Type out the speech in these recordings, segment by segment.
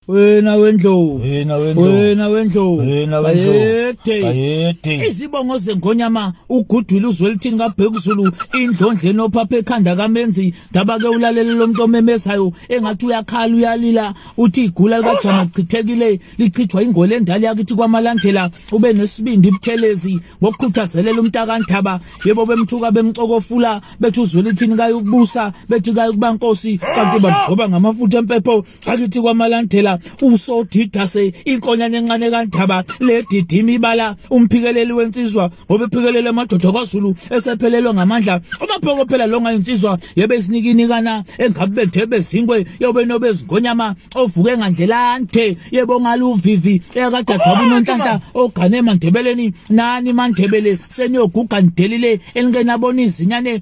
wena wendlovu wena wendlovu wena wendlovu wena wendlovu ayede izibongo zengonyama ugudwile uzwelithini kabhekuzulu indlondle nophapha ekhanda kamenzi ndaba ke ulalele lomuntu omemezayo engathi uyakhala uyalila uthi igula likajama lichithekile lichithwa ingole endala yakithi kwamalandela ube nesibindi ibuthelezi ngokukhuthazelela umntakandaba yebo bemthuka bemxokofula bethi uzwelithini kaye ukubusa bethi kaye ukuba nkosi kanti bamgcoba ngamafutha empepho bakithi kwamalandela usodida se inkonyana encane kandaba ledidima ibala umphikeleli wensizwa ngoba ephikelele amadoda kwaZulu esephelelwe ngamandla umaphoko phela longa insizwa yebe isinikinikana engabe bethebe zinkwe yobe nobe zingonyama ovuke ngandlelante yebo ngaluvivi eyakadadaba unonhlanhla ogane emandebeleni nani mandebele seniyoguga nidelile elingenabona izinyane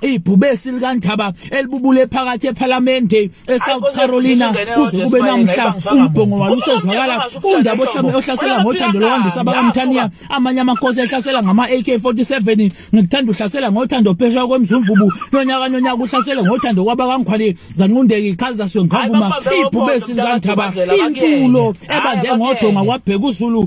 ibhubesi likandaba elibubule phakathi ephalamende eSouth Carolina kuze kube namhla umbhongo walo usezwakala undaba ohlame ohlasela ngothando lwandisa abakamthaniya amanye amakhosi ehlasela ngama AK47 ngikuthanda uhlasela ngothando phesha kwemzumvubu nonyaka nonyaka uhlasela ngothando kwabakangikhwali zanqundeki iqhaza siwe ngavuma ibhubesi likandaba intulo ebande ngodonga kwabheka uzulu